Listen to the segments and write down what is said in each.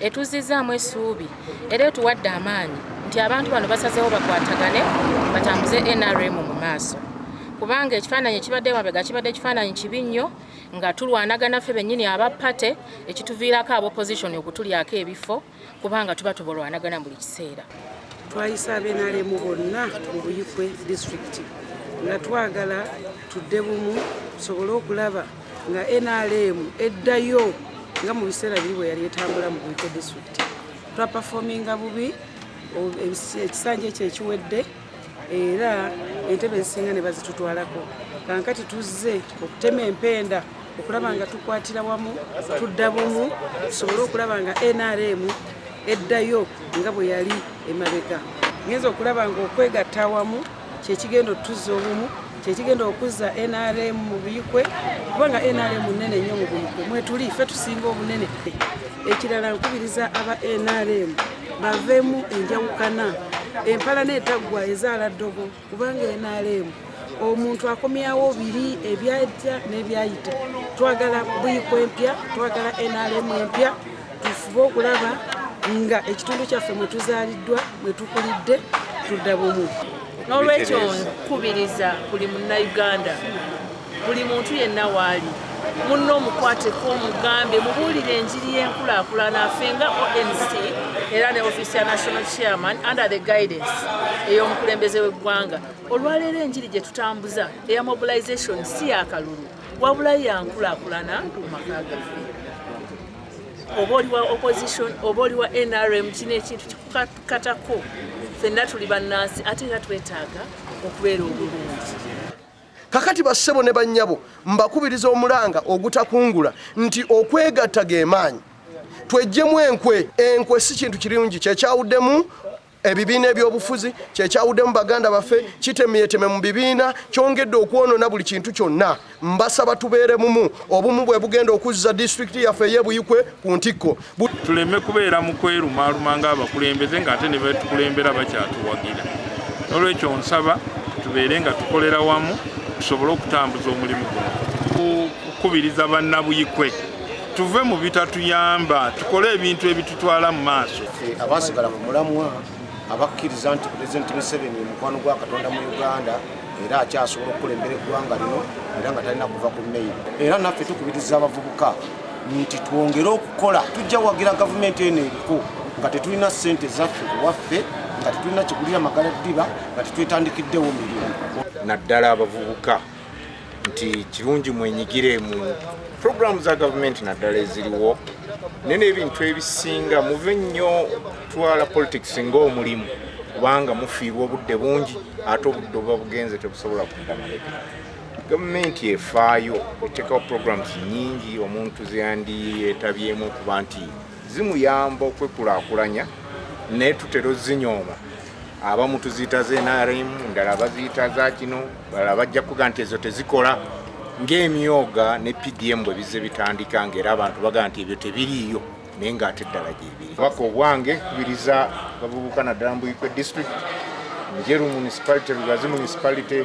etuzzizaamu essuubi era etuwadde amaanyi nti abantu bano basazeewo bakwatagane batambuze nrm mu maaso kubanga ekifaananyi ekibadde mabega kibadde ekifaananyi kibi nnyo nga tulwanagana ffe bennyini aba pate ekituviirako aba opposition okutulyako ebifo kubanga tuba tubalwanagana buli kiseera twayisa abenalemu bonna mu buyikwe disitulikiti nga twagala tudde bumu tusobole okulaba nga nrm eddayo nga mu biseera biri bwe yali etambula mu buiko district twapafominga bubi ekisanja ekyo ekiwedde era entebe ezisinga ne bazitutwalako kankati tuzze okutema empenda okulaba nga tukwatira wamu tudda bumu tusobole okulaba nga nrm eddayo nga bwe yali emabega ngenza okulaba nga okwegatta wamu kyekigenda otuzza obumu kyekigenda okuzza nrm mu buyikwe kubanga nrm nene nnyo mu buyikwe mwetuli fe tusinga obunene ekirala nkubiriza aba nrm baveemu enjawukana empalana etaggwa ezaala ddogo kubanga nrm omuntu akomyawo biri ebyajja n'ebyayita twagala buyikwe mpya twagala nrm empya tufube okulaba nga ekitundu kyaffe mwe tuzaaliddwa mwe tukulidde tudda bumu n'olwekyo nkubiriza buli munnayuganda buli muntu yenna waali munno omukwateko omugambe mubuulire enjiri y'enkulaakulana afe nga onc era ne office ya national chairman under the guidance ey'omukulembeze w'eggwanga olwaleero enjiri gye tutambuza eya mobilization si yakalulu wabula yankulaakulana mu maka gaffe oba oli wa opposition oba oli wa nrm kino ekintu kikukatako fenna tuli bannansi ate era twetaaga okubeera obulungi kakati bassebo ne bannyabo mbakubiriza omulanga ogutakungula nti okwegatta ge maanyi twejjemu enkwe enkwe si kintu kirungi kyekyawuddemu Ebibiina ebyobufuzi kyekyawudemu baganda baffe kitemyeteme mu bibiina kyongedde okwonona buli kintu kyonna mbasaba tubeere mumu obumu bwe bugenda okuzza disitulikiti yaffe eyebuyikwe ku ntikko tuleme kubeera mu kwerumaaluma nga abakulembeze ng'ate ne betukulembera bakyatuwagira n'olwekyo nsaba tubeere nga tukolera wamu tusobole okutambuza omulimu guno kukubiriza bannabuyikwe tuve mu bitatuyamba tukole ebintu ebitutwala mu maaso abaasigala ku mulamwa abakkiriza nti pulezidenti museveni mukwano gwa katonda mu uganda era akyasobola okukulembera eggwanga lino era nga talina kuva ku meyiro era naffe tukubiriza abavubuka nti twongere okukola tujja wagira gavumenti eno eriko nga tetulina ssente zaffe kuwaffe nga tetulina kigulira magala ddiba nga tetwetandikiddewo mirimu naddala abavubuka nti kirungi mwenyigire mu puroguramu za gavumenti naddala eziriwo naye n'ebintu ebisinga muve nnyo kutwala politics ng'omulimu kubanga mufiirwa obudde bungi ate obudde obuba bugenze tebusobola kuddamaleka gavumenti efaayo eteekawo programs nyingi omuntu zeyandiyetabyemu okuba nti zimuyamba okwekulakulanya naye tutera ozinyooma abamu tuziyita za nrm ndala baziyita za kino balala bajja kuga nti ezo tezikola ngaemyoga ne pdm bwe bizze bitandika ngaera abantu baga nti ebyo tebiriiyo naye ngaate ddala gyebiri baka obwange kubiriza bavubuka naddala mbuikwe district njeru municipality lugazi municipality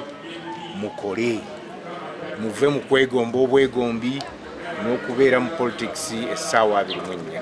mukole muve mu kwegomba obwegombi n'okubeera mu politics essaawa abiri mu ennya